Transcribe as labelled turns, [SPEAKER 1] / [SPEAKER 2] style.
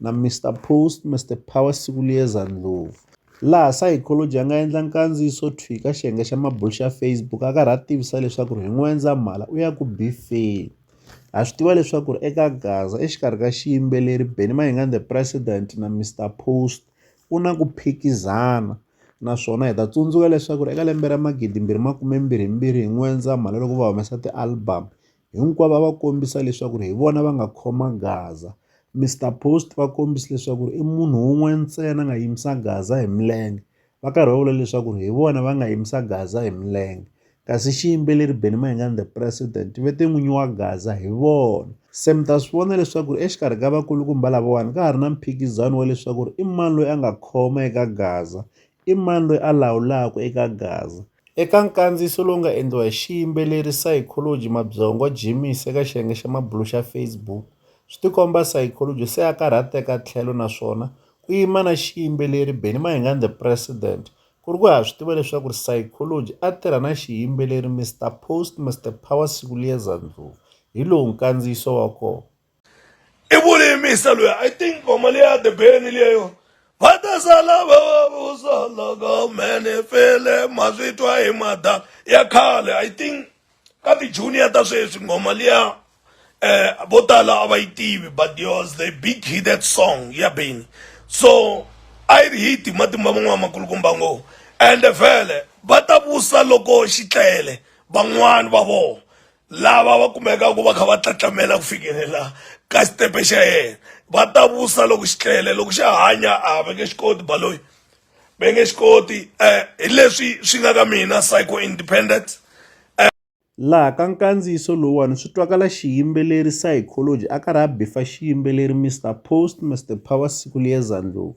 [SPEAKER 1] na Mister Post, Mister Power siku liyeza ndlopfu. Laha Psychology a nga endla nkandziyiso thwi ka xiyenge xa mabulu xa Facebook a karhi a tivisa leswaku hi N'wendzamhala u ya ku bifeni. Ha swi tiva leswaku eka Gaza exikarhi ka xiyimbeleri Benny Mayengani The President na Mister Post ku na ku phikizana naswona hi ta tsundzuka leswaku eka lembe ra magidimbirhi makumembirhimbirhi hi N'wendzamhala loko va humesa ti-album Hinkwavo a va kombisa leswaku hi vona va nga khoma Gaza. Mister Post va kombisa leswaku i munhu wun'we ntsena a nga yimisa Gaza hi milenge, va karhi va vula leswaku hi vona va nga yimisa Gaza hi milenge. Kasi xiyimbeleri Benny Mayengani The President ve te n'winyi wa Gaza hi vona. Se mi ta swi vona leswaku exikarhi ka vakulukumba lavawani ka ha ri na mphikizano wa leswaku i mani loyi a nga khoma eka Gaza, I mani loyi a lawulaka eka gaza? Eka nkandziyiso lowu nga endliwa hi xiyimbeleri, psychology, Mabyongo Jimmy's eka xiyenge xa mabulu xa Facebook, swi tikomba psychology se a karhateka tlhelo naswona ku yima na xiyimbeleri Benny Mahingani The President ku ri ku ha swi tiva leswaku psychology a tirha na xiyimbeleri Mister Post Mister Power Sikulieza Ndlovu. Hi lowu nkandziyiso wa kona. i
[SPEAKER 2] vulimisa loyi i think ngoma leyi ya the beni leyo va ta sala va va vusa loko mene fele ma swi twa hi mada ya khale i think ka ti-junior ta sweswi ngoma liya eh vo tala a va yi tivi but yours the big hit that song ya beni so a yi ri hit hi matimba man'wana makulukumba ngo ende vhele va ta vusa loko xi tlele van'wani va vona lava va kumekaka va kha va tlatlamela ku fikelela ka xitepe xa yena va ta vusa loko xi tlele loko xa hanya a va nge xi koti baloyi va nge xi koti um hi leswi swi nga ka mina psycho independent
[SPEAKER 1] laha ka nkandziyiso lowuwani swi twakala xiyimbeleri psychology a karhi a bifa xiyimbeleri mr post mr power siku liyeza ndlovu